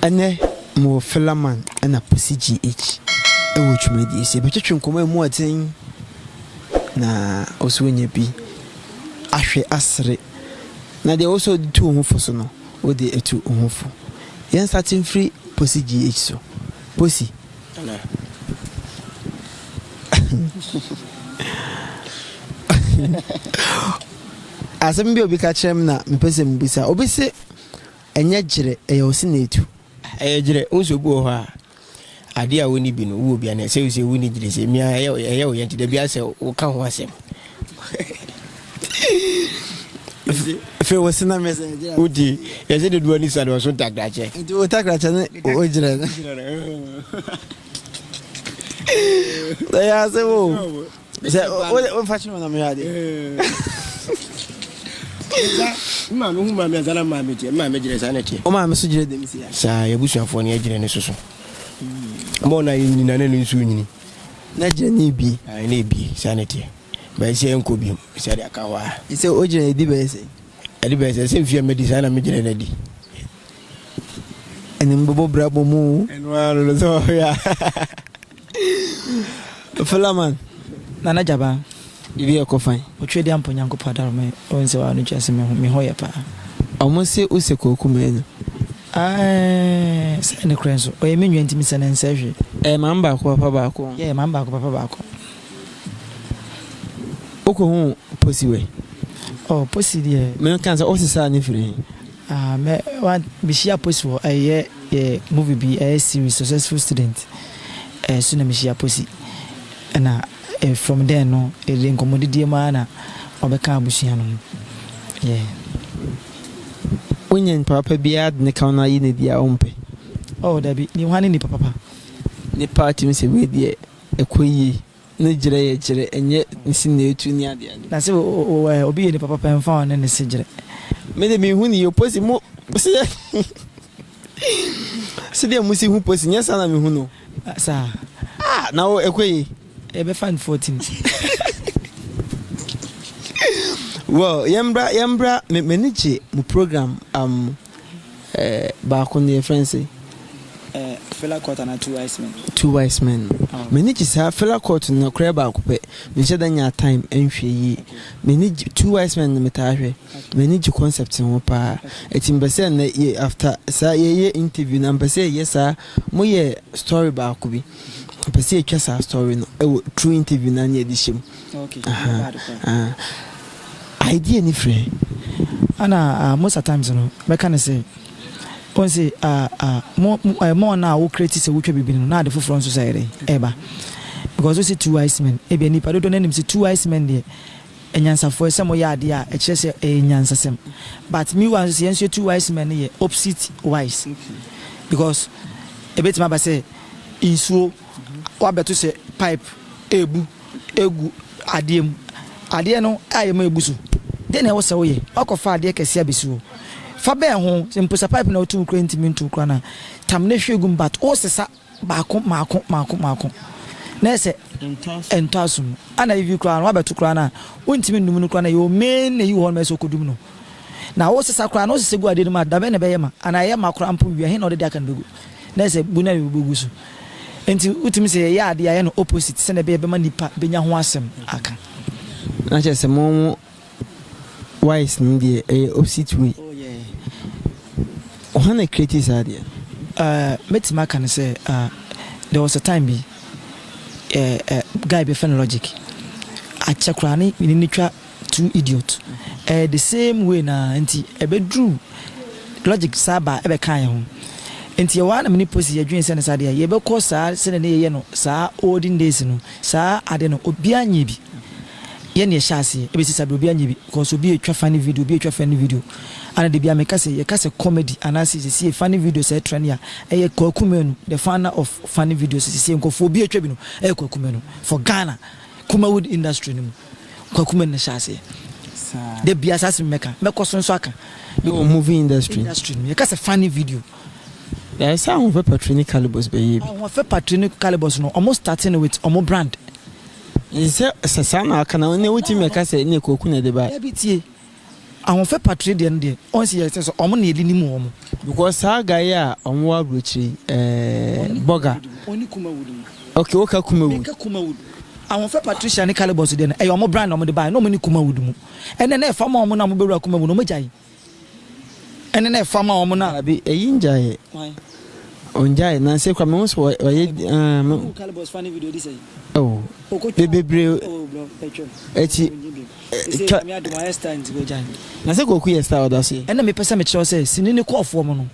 Ɛnɛ mowɔ Philaman na Pussy GH wɔ dwumadie ase. Yɛbɛtwetwe nkɔmmɔ a ɛmu yɛ den na wo nso woanya bi ahwɛ asere. Na deɛ wo nso wode tu wo ho fo so no, wode atu wo ho fo. Yɛnstate mfiri Pussy GH so. Pussy, Asɛm bi a obi ka kyerɛ me na mepɛ sɛ mebisa. Obi se ɛnyɛ gyerɛ, ɛyɛ ɔse na etu. Ɛyɛ gyerɛ, wosɛ obi wɔ hɔ a adeɛ a wonni bi no wowɔ bi anɛ sɛ wosɛ wonni gyerɛ sɛ mia ɛyɛ ɛyɛ wo yɛ nti dabi asɛ woka ho asɛm. fɛ wɔ sena mɛ sɛ gyina o ti yɛ sɛ de duwa ni sani ɔso takrakyɛ nti o takrakyɛ ne o gyina no ɛyɛ ase wo sɛ o fa kyerɛ ɔnam yɛ ade maame hu maame asana maame kyɛ maame gyina saa na kyɛ o maame so gyina dɛm si ya saa yɛ busuafoɔ ne yɛ gyina ne soso mɔ na yɛ nyina ne no nso nyini na gyina ne bi ne bi saa na kyɛ Mɛnhyɛ ɛnkɔ bio. Bisa deɛ aka hɔ a. Sɛ ɔgyina ɛdi bɛyɛ sɛn? Ɛdi bɛyɛ sɛn? Sɛ mfeɛ a madi saa na megyina no adi. Ɛne me bɛbɔ bra bɔ mu. Ɛno ara no no sɛ ɔhwɛ a. Flaman. Nana Gyabaa, biribi ɛkɔ fine? Ɔtwerɛ deɛ ampa Onyankopɔn adaro me, wohu sɛ woa no kyerɛ sɛ me ho yɛ paa. Ɔmo se wo sɛ kwaku manu. Aeeh sɛɛ ne korɛ nso. Ɔyɛ me nua nti mesɛ no ɛnsɛɛ hwee. Ɛyɛ maame baako papa baako. Yeah ɛyɛ maame baako papa baako. Wokohu Posi wɛ? Oh Posi deɛ. Me kan sɛ ɔsesa ne firi he? Ah me wa me hyia Posi wɔ ɛyɛ yɛ movie bi ɛyɛ series successful student ɛɛ so na me hyia Posi ɛna eh from then no yɛde nkɔmɔdidie mu aa na ɔbɛka abusua no ho yeah. Wonya nipa papa biaa de ne ka wo na ayi no adi a ɔmpɛ? Oh dabi ne hwane nipa papa? Nipa a tumi sɛ wei deɛ. Ɛkɔ yie ne gyerɛ yɛ gyerɛ ɛnyɛ nsi na ɛtu ne ade ade. Na sɛ obi yɛ nipa papa ɛmfa ɔne ne se gyerɛ. Me de me hu ne yie posi mo se yɛ sedeɛ mo si hu posi nyɛ saa na me hu no. Saa. Ah na wo ɛkɔ yie. Ɛbɛfa no 14. Well yɛmbra yɛmbra m'ani gye mo program um. Baako no yɛfrɛ no sɛn? Fela Curt anaa Two Wise Men? Two Wise Men no. Oh. M'ani gye saa Fela Curt no koraa baako pɛ. Menhyɛ da nyaa time nhwɛ yie. M'ani gye Two Wise Men no metaa hwɛ. M'ani gye concept no ho paa. Ɛti mpɛ sɛ nnɛ yɛ after saa yɛyɛ interview na mpɛ sɛ yɛyɛ saa moyɛ story baako bi. Mpɛ sɛ yɛtwa saa story no ɛwɔ through interview no a na yɛde hyɛ mu. Idea ni frɛ. Ɛna mosa times no mɛka no sɛ wɔn se mo ɛma wɔn a wɔ create sɛ wotwa biribi no na ade foforɔ nso sɛ ɛyɛ dɛn ɛɛba because wose two wise men ebia nipa dodoɔ no anim sɛ two wise men deɛ anyansafoɔ sɛ moyɛ adeɛ a ɛkyerɛ sɛ ɛyɛ nyansasɛm but me wa nso sɛ yɛn nso yɛ two wise men no yɛ opposite wise because ebetumi aba sɛ nsuo Woabɛto sɛ pipe rebu agu adeɛ mu. Adeɛ no ayɛ ma abu so. Deɛ na ɛwɔ sɛ woyɛ, woakɔfa adeɛ kɛseɛ abɛsi hɔ. Fa bɛn ho, mpo sɛ pipe no a woto gu koraa ntumi nto koraa no a, tam na hwie gu mu but wosesa baako mmaako mmaako mmaako na ayɛ sɛ ɛntɔ asom. Ɛna ebi koraa no woabɛto koraa no a, wontumi nnum no koraa no a, your main ayi wɔ hɔ nom a ɛsɛ sɛ wokɔdum no. Na wosesa koraa no, wosesa gu adeɛ no mu a, dabɛn na ɛbɛyɛ ma? Anaa ɛyɛ ma koraa mpo wie a, he na wode de aka no bɛgu? Na ayɛ sɛ bu no ara na wobɛgu so. Enti wotumi sɛ yɛyɛ ade a yɛyɛ no opposite sɛnea ɛbɛyɛ bɛma nnipa bɛnya ho asɛm aka. Na kyerɛ sɛ mo mo wise no deɛ ɛyɛ opposite way. Oh yeah. Hwan na create saa deɛ no? Uh, mɛtumi aka no sɛ uh, there was a time bi uh, uh, guy bɛfɛ no logic akyɛ koraa ne ne twa Too idiot ɛɛ the same way no ara nti ɛbɛduru logic saa baa ɛbɛkaa yɛn ho nti ɛwɔ ara na me ne Posy yɛ dwene sɛ ne saa deɛ yɛbɛkɔ saa sɛdeɛ na yɛyɛ no saa olden days no saa adeɛ no obiara nyɛɛ bi yɛ na yɛhyɛ aseɛ ɛbɛsi saa berɛ obiara nyɛɛ bi cause obi ɛtwa funny video obi ɛtwa funny video ana da biara me ka sɛ yɛka sɛ comedy anaa sɛ sesie funny video sɛ ɛtrɛ ne a ɛyɛ Kwaku Manu the founder of funny videos sesie nkorɔfoɔ obi ɛtwa bi no ɛyɛ Kwaku Manu for Ghana Kumawood industry no mu. Kwaku Mena hyɛ aseɛ da biaa saa sɛ mɛka mɛkɔ so nso aka ɛwɔ movie industry industry no yɛka sɛ funny video Ɛɛ sɛ ahoɔfɛ patri ne calibus bɛyɛ bi. Ahoɔfɛ patri ne calibus no ɔmo starte no with ɔmo brand. Sɛ sɛ saa na aka na ne wotumi mɛka sɛ ne kwaku na ɛde bae. Dabi tie. Ahofɛpa tire deɛ no deɛ ɔnsi yɛ sɛ sɛ ɔmo na yɛde nim wɔn. Because saa guy yi a ɔmo wɔ aburokyire yi ɛɛ bɔga. Ɔne kumawood no. Okay woka kumawood. Meka kumawood. Ahofɛ Patricia ne Calibos deɛ no ɛyɛ ɔmo brand na ɔmo de baeɛ na ɔmo ne kumawood mu. Ɛnɛ na ɛfa ma ɔmo na ɔmo bɛwura kumawood no ɔmo gyae. Ɛnɛ na ɛfa ma ɔmo na. Abi ɛyi ngyaeɛ. Why? Ɔngyae na nse kora mehu so ɔyɛ ah me. Calibos fa ne video di sɛn. Oh. Bebree. Oh bro ɛtwam. Ɛti Seesei Nyame adom ayɛ star nti wagyae me. Na sɛ Kwaku yɛ star a ɔda so yi? Ɛnna mepɛ sɛ mekyerɛ wo sɛ sini no kɔɔ fɔm no.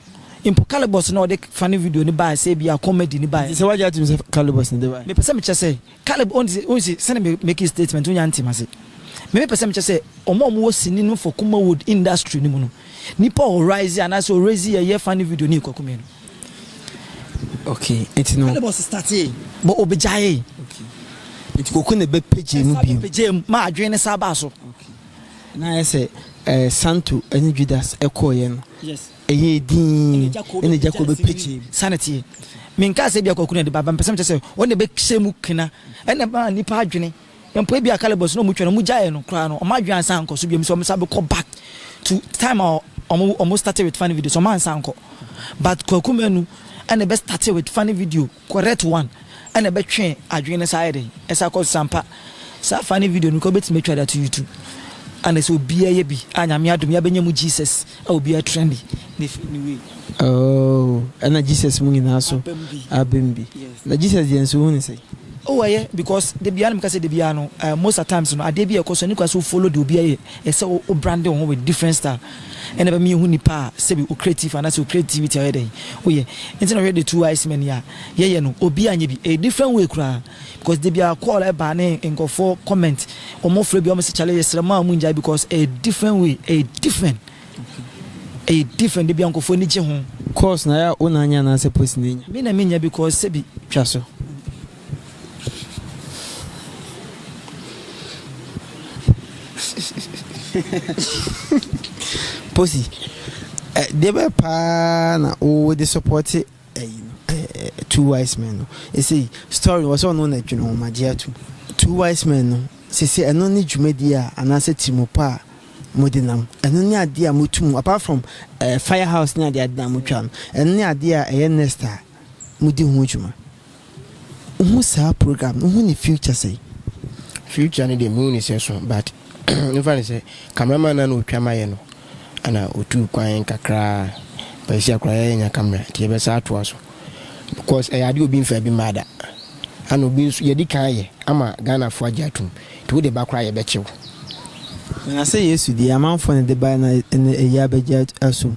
Mpo Calibus na ɔde funny video no baeɛ sɛ ebia comedy no baeɛ. Nti sɛ wagye atom sɛ Calibus na ɔde baeɛ? Mepɛ sɛ mekyerɛ sɛ Calib o nti wohu se sɛnea me make statement wonya ntee m'ase. Me mepɛ sɛ mekyerɛ sɛ wɔn a wɔwɔ sini no for Kumawood industry no mu no, nipa a ɔ rise anaasɛ ɔ raise yɛ funny video no yɛ Kwaku Menu. Okay, nti no. Ɛna bɔs startee. Bɔ obi gyaee. Okay. Nti koko na ɛbɛ pagye mu bio. Ɛsa pagye mu, ma adwene ne saa baa so. Okay. Na ayɛ sɛ eh, Santo ɛne Judas ɛkɔɔyɛ no. Yes. Ɛyɛ edin. Ɛna gya kɔ bɛ pagye. Sanity. Menkaa sɛ bi akɔkuna de ba, bɛmpɛ sɛ mekyɛ sɛ wɔn na ɛbɛ hyɛ mu kena. Ɛna ma nipa adwene. Mpo ebia Caleb ɔse na ɔmo twa no, ɔmo gyaeɛ no koraa no, ɔmo adwene ansan ankɔ so biom sɛ ɔmo san bɛkɔ back to time a ɔmo ɔmo starte with funny videos, ɔmo ansan ankɔ but Kwaku Manu ɛna ɛbɛ starte with funny video correct one ɛna ɛbɛ twe adwene no saa ayɛ dɛn ɛsan kɔ so, sampa saa funny video no koraa wobɛtumi atwa de ato YouTube ɛna sɛ obiaa yɛ bi a Nyame adom yɛabɛnya mu Jesus. A obia tra ni na firi ni wei. Ooh ɛna Jesus mu nyinaa so abɛm bi na Jesus deɛ nso wohu no sɛn? Oh ɛyɛ because dabiaa na mekasɛ dabiaa no eh most at times no adeɛ bi a ɛkɔ so ɛne koraa sɛ wo follow deɛ obia yɛ ɛsɛ wo wo brande wo ho with different style ɛna ɛbɛma yɛhu nipa a sɛbi wo creative anaasɛ wo creativity a ɔyɛ dɛn woyɛ nti na wohwɛ the two wise men yi a yɛyɛ no obia nyɛ bi ɛyɛ different way koraa. Because da biara call ɛba ne nkurɔfoɔ comment wɔn frɛ bi wɔn sɛ kyale yɛsrɛ mo a wɔn ngyae because ɛyɛ different way ɛyɛ different ɛyɛ different da biara nkurɔfoɔ ani gye ho. Course na ya wo na anya anaasɛ post na enya? Me na me nya because sɛbi. Twa so. Posy, eh, deɛ bɛyɛ paa na wode sɔpɔte ɛyi no ɛɛ two wise men no ɛsɛ yi story wɔ sɛ ɔno na dwene wɔn agye atum two wise men no sese ɛno ne dwumadie a anaasɛ tirimu pa a mo de nam ɛno ne adeɛ a mo tum apart from ɛɛ eh, fire house ne adeɛ adeɛ na mo twa no ɛno ne adeɛ a ɛyɛ next a mo di ho dwuma. Wohu saa program no, wohu ne future sɛn? Future no deɛ mehu ne sɛ so but mefa ne sɛ camera man no a na ɔtwa ma yɛ no ana ɔtuu kwan kakraa but sisi akora yɛ yɛnya camera nti yɛbɛsa atoa so because ɛyɛ adeɛ obi mfa bi mmaa da ana obi nso yɛdi kan ayɛ ama Ghanafoɔ agye atom nti wode ba koraa yɛbɛkye wo. Na sɛ Yesu deɛ amanfoɔ na ɛde baeɛ na ɛnɛ ɛyi abɛgye asom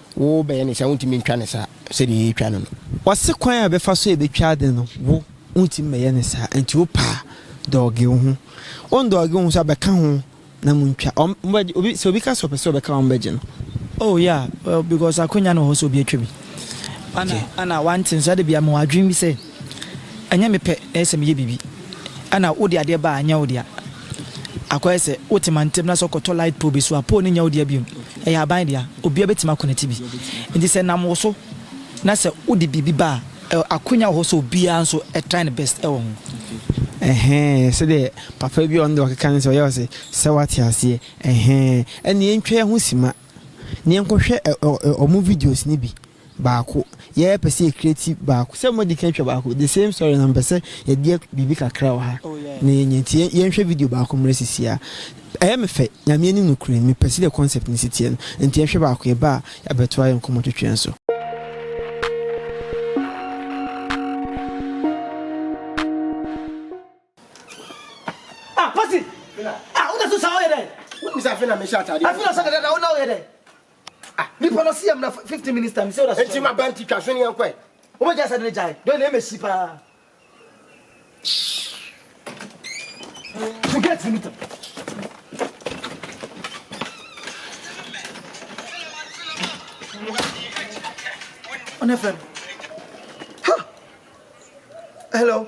Wo bɛyɛ ne saa, wontumi ntwa ne saa sɛdeɛ yɛretwa no no. Ɔse kwan a yɛbɛfa so a yɛbɛtwa ade no, wo, wontumi mmɛyɛ ne saa, nti wo pɛ a, dɔɔge wo ho. Wo ndɔɔge wo ho nso a, bɛka ho na montwa. Wɔn, wɔbɛgye, obi, sɛ obi ka sɛ ɔpɛ sɛ ɔbɛka wɔn bɛgye no. Oh yeah, well, because akwanya no wɔ hɔ sɛ obi atwa bi. Ana, Okay. ana wante nso, ada biara mewɔ adwene bi sɛ, ɛnyɛ mepɛ na ɛyɛ sɛ meyɛ biribi. Ana wode adeɛ ba a, ɛnyɛ wo dea. Akɔyɛ sɛ wote mantam na sɛ kɔtɔ light pole bi so a, pole no nyɛ wo dea bio. Ɛyɛ aban dea. Obiara betumi akonɛte bi. Enti sɛ nam wo so na sɛ wode biribi ba a, ɛ, akwanya wɔ hɔ sɛ obiara nso try ne best wɔ ho. Ɛhɛɛ, sɛdeɛ papa bi a ɔno deɛ ɔkeka ne sɛ ɔyɛ ɔse, sɛ woate aseɛ, ɛhɛɛ, ɛnna yɛntwa yɛn ho simma na yɛnkɔhwɛ ɛ, ɛ, ɛ, wɔn videos no bi. baako yɛ pɛ sɛ yɛ create baako sɛ mo di kan twa baako the same story na mpɛ sɛ yɛ deɛ biribi kakra wɔ ha na yɛ nyɛ nti yɛn hwɛ video baako mmerɛ sisi a ɛyɛ me fɛ nyame anim no kura mi pɛ sɛ deɛ concept ne si teɛ no nti yɛn hwɛ baako yɛ ba a yɛabɛto ayɛ nkɔmɔ twetwe nso. Ah, pasi! Ah, wode so saa woyɛ dɛn? Wobisa afei na mehyɛ ataadeɛ. Afei na sɛ dɛdɛ na wona woyɛ dɛn? Ah, nipa no si amna 15 minutes time sɛ ɔda so. Enti ma ba nti twa so ne yɛn kɔɛ. Wọ́n jẹ́ sẹ́dẹ̀ jai, dọ́ọ̀ náà mẹ́sì paa. So get me tam. Ọ̀nà fẹ́ràn. Hello.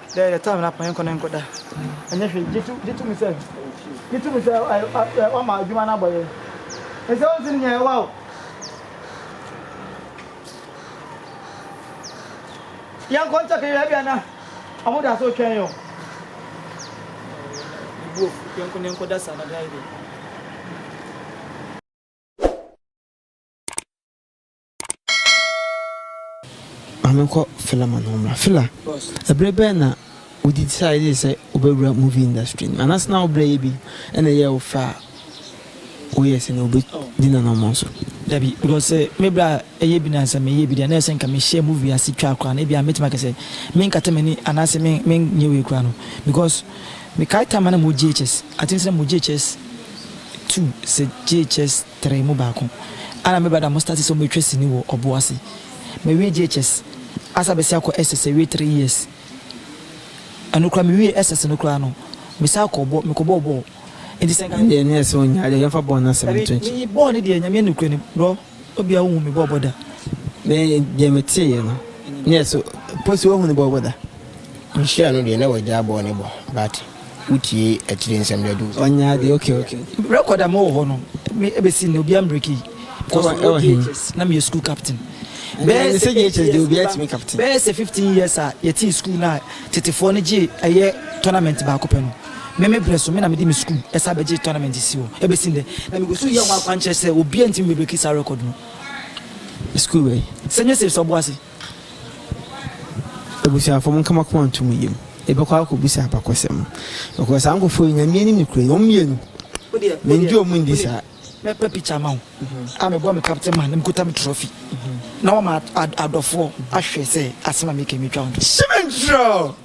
There the time na panyinko no nkɔda ɛnyɛ hwee gye to gye to mu sɛ gye to mu sɛ ɛ wama adwuma no abɔ yɛ nsɛ wɔn nti no nyɛ ɛwa o yɛn nkɔ nkyɛ kɛyɛ ɛbi ana wɔn da so twɛn yɛ o ebuo yɛn nkɔ yɛn nkɔda saa na bɛyɛ bi. Ma menkɔ Fela ma no ho mmra. Fela, ɛberɛ bɛn na wo decide sɛ wo bɛwura movie industry no? Anaase na wo brɛ yɛ bi na ɛyɛɛ wo fɛ a wo yɛɛ sɛnea obi di n'anammɔn so? Dabi, because sɛ me brɛ a ɛyɛ bi na sɛ me yɛ bi deɛ na ɛyɛ sɛ nka me hyɛɛ movie ase twaa koraa na ebia mɛtumi aka sɛ me nkata m'ani anaase me me nyɛ wei koraa no because me kae time a na me wɔ JHS, I think sɛ na me wɔ JHS two sɛ JHS three mu baako ana me brada mo starte sɛ ɔmo atwa sini wɔ ɔbo ase mawie JHS asa bɛsi akɔ SS awie three years ɛno koraa me wie SS no koraa no me saa kɔ ɔbɔ me kɔ bɔɔ bɔɔl nti sɛ nka ɛndeɛ neɛ sɛ ɔnyaa deɛ yɛmfa bɔɔl no asɛm no to nkyɛn. Dabi bɔɔl no deɛ nyame nokorɛ nim brɔ obia wo hu me bɔɔ bɔ da. Me deɛ me teeɛ no neɛ sɛ Posy wo hu ne bɔɔ bɔ da. Mehyia no deɛ na wagyaa bɔɔl no bɔ but. Wotie akyire nsɛm de adu wo so. Ɔnyɛ adeɛ ok ok ok. Record a mewɔ hɔ no me ɛbɛsi nnɛ obiara mbreki yi because me wɔ JHS na meyɛ school captain bɛyɛ sɛ 15 years bɛyɛ sɛ 15 years a yɛtee school no a tetefoɔ no gyee ɛyɛ tournament baako pɛ no me me brɛ so me na mede me school ɛsan bɛgyee tournament si hɔ ɛbɛsi nnɛ na megu so yɛ ho akwankyerɛ sɛ obiara ntumi mbreki saa record no. School wei. Sɛ nyɛ safe sɛ ɔboase. Abusuafo, monka mo akoma nto mo yam. Yɛbɛkɔ akɔbisa abakɔsɛm. Because saa nkurɔfoɔ yi, Nyame anim nokorɛ ni, wɔn mmienu, mennye wɔn nni saa. Mɛpa pikya ama wo a mebɔɔ me captain man na mekuta me trophy na wama adɔfoɔ ahwɛ sɛ asɛm a meka yi mɛtwa wo nto. Hyɛ me ntorɔ!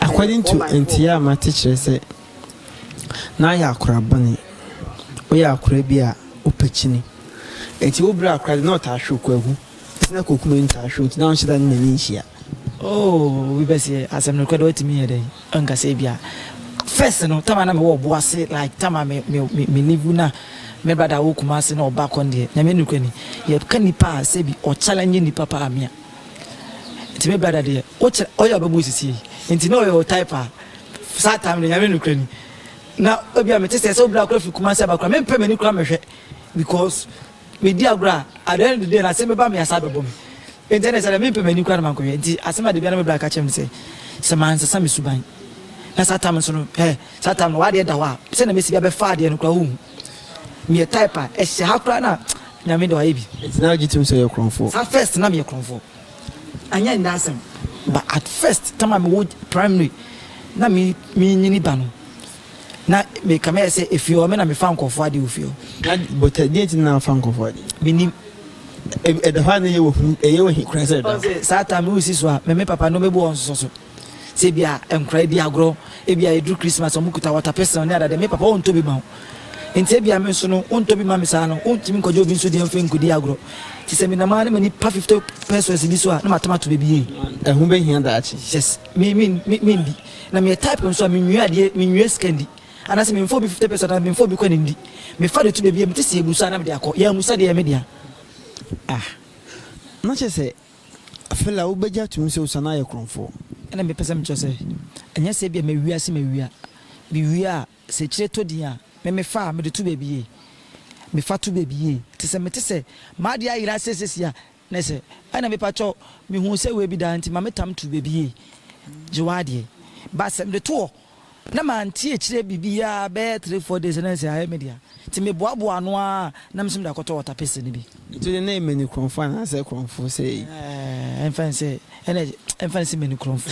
According to nteɛ a mate kyerɛ sɛ na ayɛ akora bɔne, woyɛ akora bi a wopɛ kyini, nti wo bere akora de na ɔtaa hwe wo kwaku, nti na kwaku m'ani taa hwe wo nti na wonhyɛ da ne n'ani nhyia. Oh obi bɛse asɛm no korɛ deɛ watumi yɛ dɛn anka sɛ ebia first no time a na mewɔ ɔbo ase like time a me me me live na me brother wɔ Kumasi na ɔba kɔ no deɛ nyame nokorɛ ni yɛka nipa a sɛbi ɔchallenge nipa paa me a Nti me brada deɛ wokyɛ ɔyɛ ɔbɛbɔ wo sisi yi nti na ɔyɛ wo type a saa time no nyame nokorɛ ni na ebia mete sɛ sɛ wobra kora firi Kumasi aba kora mempɛ m'ani kora mɛhwɛ because medi agorɔ a at the end of the day no asɛm bɛba me asa abɛbɔ me nti ɛne sɛ dɛ mempɛ m'ani kora na mankɔhwɛ nti asɛm a da biara na me brada ka kyerɛ me sɛ sɛ mansesa me suban na saa time nso no eh saa time no w'adeɛ da hɔ a sɛdeɛ mesi bi abɛfa adeɛ no kora wohu Meyɛ type a ɛhyɛ ha koraa na Nyame de wayɛ bi. Nti na wogye tom sɛ woyɛ korɔmfoɔ? Saa first na meyɛ korɔmfoɔ anyɛ nnɛ asɛm but at first tam a mewɔ primary na me menyini ba no na me kame yɛ sɛ efie hɔ me na mefa nkorɔfoɔ adeɛ wɔ fie hɔ. Ade but deɛ nti na wofa nkorɔfoɔ adeɛ? Menim. Ɛda hɔ a na ɛyɛ wo hu ɛyɛ wo he koraa sɛ ɛda hɔ? Saa time no wosi so a me me papa no mɛbu wɔn nsosɔ so. Sɛ ebia nkwadaa redi agorɔ, ebia ɛduru Christmas a wɔkuta water pistol ne adeade, me papa ɔntɔ bi ma wo. Enti ebia me nso no, wontɔ bi mma me saa no, wontumi nkɔgye obi nso deɛ mfa nkɔdi agorɔ. Nti sɛ menam ara ne m'ani pa 50 pesos bi so a, na matam ato baabi yie. Ɛho bɛhia daakye. Yes, me, me, me, mendi. Na meyɛ type nso a menwie adeɛ, menwie sika ndi. Anaasɛ memfa obi 50 pesos anaa memfa obi kɔ ne ndi. Mefa de to baabi a mete sɛ ɛgu so a na mede akɔ. Yɛn amusa deɛ ɛyɛ me dea. Ah, na kyerɛ sɛ Afei la wobegye atom sɛ osian ayɛ korɔmfoɔ. Ɛna mepɛ sɛ mekyerɛ sɛ, ɛnyɛ sɛ ebia mawia se mawia. Mewia a, sɛ akyire tɔ din a, me mefa a, mede to baabi yie. Mefa to baabi yie. Te sɛ mete sɛ m'adeɛ ayera seesesi a, ne sɛ, ɛna mepa kyɛw, mehuu sɛ wei bi da nti ma metam to baabi yie. Gye w'adeɛ. But sɛ mede to hɔ na mante akyire biribiara bɛyɛ three four days na ɛsɛ ayɛ me dea nti me boaboa ano ara na me nso mede akɔtɔ water pistol no bi. Nti wode ne mani korɔnfo anaasɛ korɔnfo sɛ yi? Ɛɛɛ ɛmfa nse ɛna ɛmfa nse mani korɔnfo.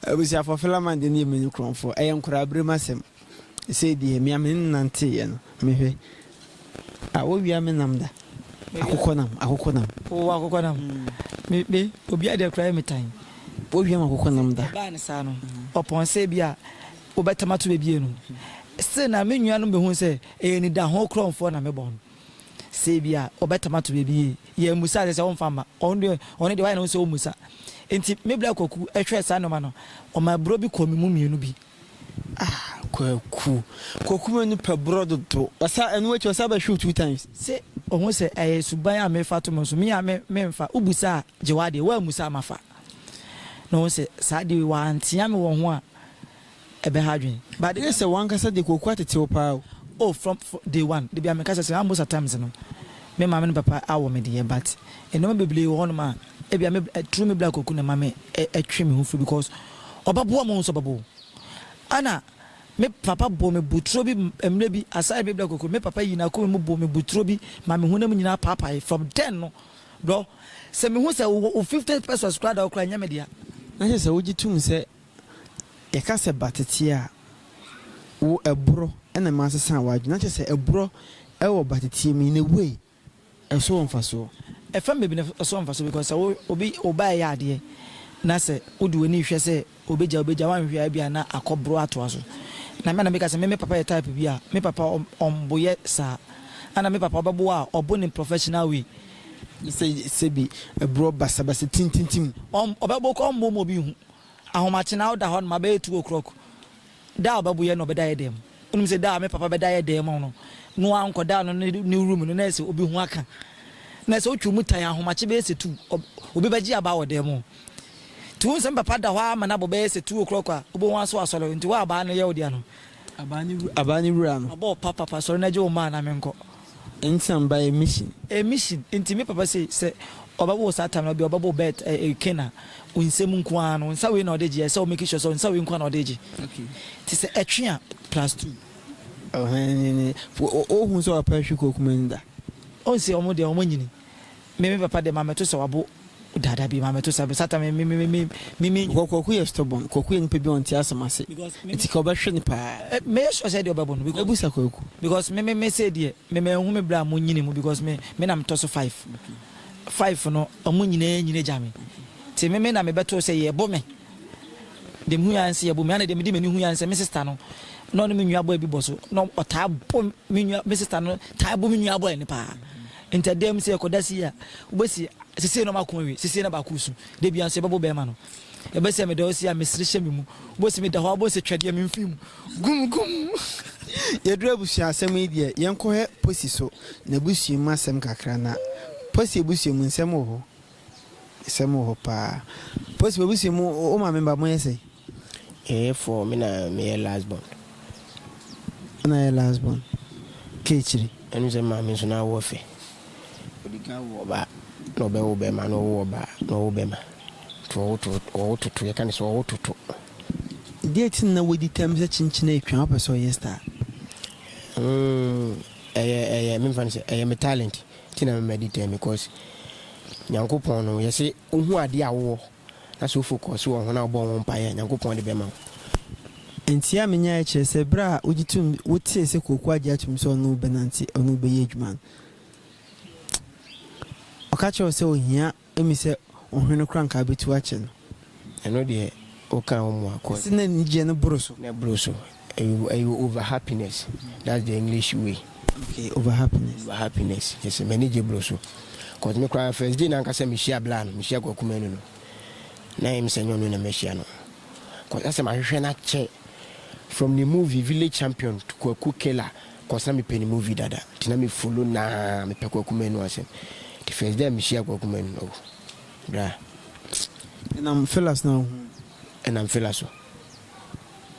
Abusuafoɔ Philemon deɛ ne yɛ mani korɔnfo ɛyɛ nkwadaa berem asɛm. Sei deɛ mea me nnanteeɛ no mehwɛ a wɔwia me nam da akokɔ nam akokɔ nam. Wowɔ akokɔ nam me me obiara deɛ koraa yɛ me tan. Wɔwia me akokɔ nam da. Ɛbaa ne saa no ɔpɔn sɛ bi a wobɛtam ato bɛbie no se na me nua nom bɛhu sɛ ɛyɛ anidaho korɔmfoɔ na me bɔ no sɛ bi a ɔbɛtam ato bɛbie yɛ ammusa sɛ sɛ ɔmfa mma ɔno deɛ ɔno deɛ wayɛ ne ho sɛ ɔmmusa nti me bla kwaku hwɛɛ saa nnoɔma no ɔma aburo bi kɔɔ me mu mmienu bi. Ah Kwaku. Kwaku ma nipa brɔ dodo. Ɔsa ɛno akyi ɔsa bɛ hwe wo two times. Se ohu se ɛyɛ suban a mefa to mo so me a me me nfa wo busa a gye w'adeɛ wo ammusa a mafa na ohu se saa adeɛ wei wantea me wɔ ho a ɛbɛha adwene but the Ɛyɛ sɛ w'ankasa deɛ Kwaku atete wo paa o. Oh from from day one da biara me kasa se ah most at times no me maame ne papa awo me deɛ but nnoɔma bebree wɔ hɔ nom a ebia me bla true me bla Kwaku na ɛma me twe me ho firi because Ɔbɛboa mo nso ɔbɛbɔ wo. Ana me papa bɔɔ me boturo bi mmerɛ bi asaeɛ bebla kokro me papa yii n'akoma mu bɔɔ me boturo bi ma me honam nyinaa paapaeɛ from then no brɔ sɛ me hu sɛ wo wɔ wo 50 pesos koraa da hɔ koraa ɛnyɛ me dea. Na kyerɛ sɛ wogye tom sɛ yɛka sɛ ba tete a wo ɛborɔ na ɛma asesa w'adwene na kyerɛ sɛ ɛborɔ wɔ ba teteɛ mu in a way Ɛso wɔ mfasoɔ? Ɛfam baabi na ɛso wɔ mfasoɔ because sɛ wo obi wo ba ɛyɛ adeɛ na sɛ wode w'ani hwɛ sɛ ɔbɛgya ɔbɛgya woanhwɛ a ebia na akɔ boro atoa so na me a na meka sɛ me me papa yɛ type bi a me papa ɔmboyɛ saa ɛna me papa ɔbɛbo a ɔbo no in professional way ne sɛ sɛbi ɛborɔ basabasa tintintim. Ɔbɛbo koraa ɔmbo ma obi nhu ahomakye na woda hɔ nom abɛyɛ two o'clock Da a ɔbɛboyɛ na ɔbɛda yɛ dɛn mu. Wonim sɛ da a me papa bɛda yɛ dɛn mu no, no ara nkɔdaa no ne ne room no na ayɛ sɛ obi ho aka. Na sɛ otwa mu tan a ahomakye bɛyɛ sɛ two, ɔb, obi bɛgye aba wɔ dan mu. Nti wohu sɛ me papa da hɔ ara ma n'abɔ bɛyɛ sɛ two o'clock a, wobɛhu aso asɔre. Nti wo abaa no yɛ wo dea no. Abaa ne wura, abaa ne wura no. Mabɔ wo papapa, sɔre na gye wo mma a na menkɔ. Nti na meba emission. Emission, nti me papa sei sɛ ɔbɛwo wo saa time no ɔdeɛ ɔbɛbɔ wo bɛɛt ɛɛ ken a wo nsam nko ara no wo nsa wei na ɔde gye ɛsɛ wo make sure sɛ wo nsa wei nko ara na ɔde gye nti sɛ ɛtwe a plus two. Ɔhɛn nye ne, ohu sɛ ɔpɛ hwe kɔ Kumasi da. Ɔnse ɔmo deɛ ɔmo nyini. Me me papa deɛ maame to sa wabo da da bi maame to sa me satan me me me me me me. Because kwaku yɛ stubborn kwaku yɛ nipa bi a ɔnte asɛm ase nti ka ɔbɛhwe no paa. Me yɛ sure sɛ deɛ ɔbɛbo no because. Ɛbu sa kwaku. Because me me me sei deɛ me ma nhu me bra a mo nyini mu because me me na me tɔ so five five no ɔmo nyinaa nyini gya me nti me me na me bɛto sɛ yɛ bo me deɛ me hu yɛ anse yɛ bo me ana deɛ me di m'ani hu yɛ anse me sister no na ɔne me nua boy bi bɔ so na ɔtaa bo me nua me sister no taa bo me nua boy no paa. Ntɛdɛm sɛ ɛkɔda sei a, wobɛsi sesei na ɔma ako awie, sesei na baako resu. Da biara nso yɛbɛbɔ bɛrima no. Ɛbɛ sɛ meda hɔ sei a, mesere hyɛ me mu. Wobɛsi meda hɔ a, wobɛhu sɛ twɛdeɛ memfiri mu. Gum! Gum! Yɛduru abusua asɛm yi deɛ, yɛnkɔhwɛ Posi so n'abusua mu asɛm kakra na. Posi abusua mu, nsɛm wɔ hɔ. Nsɛm wɔ hɔ paa. Posi m'abusua mu, wo maame ba moyɛ sɛn? Yɛyɛ four, me na meyɛ last born. Wo na yɛ last born, ka akyiri. Ɛne sɛ maame nso na awo ɔfɛ. Odi kan wo ɔbaa, na ɔbɛ wo bɛɛma, na ɔwo ɔbaa, na ɔwo bɛɛma. Nti ɔwo to, ɔwo toto, yɛka ne sɛ ɔwo toto. Deɛ nti na na wadi tam sɛ kyenkyene atwa, wopɛ sɛ ɔyɛ star? Humm, ɛyɛ, ɛyɛ, memfa no sɛ, ɛyɛ me talent, nti na me ma di tam, because Nyankopɔn no, yɛse wohu adeɛ a wowɔ. na sɛ wofokɔɔ so wɔ ho na wɔbɔɔ ho mpae a, Nyankopɔn de bɛma wo. Nteɛ a menyaeɛ kyerɛ sɛ berɛ a wogye toom, wotee sɛ Kwaku agye atom sɛ ɔne wo bɛnante, ɔne wo bɛyɛ adwuma no, ɔka kyerɛɛ wo sɛ ɔhia me sɛ ɔhwene no koraa nka bɛtu akyɛ no. Ɛno deɛ, wokaa wo mmoa kɔeɛ. Ɛse na anigyeɛ no boro so. Na ɛboro so. Ɛyɛ ɛyɛ over happiness that's the English way. Okay over happiness. Over happiness yes m'ani gye bro so cos me koraa first day nankasa mehyia bla no mehyia kwaku manu no na ɛyɛ me sɛ nyɛ ɔno na mahyia no cos asɛ mahwehwɛ no akyɛ from ne movie village champion to kwaku killer cos na mepɛ ne movie dada nti na me follow naa mepɛ kwaku manu asɛm nti first day a mehyia kwaku manu no oh bra. Ɛnam fela so na wohuu no. Ɛnam fela so.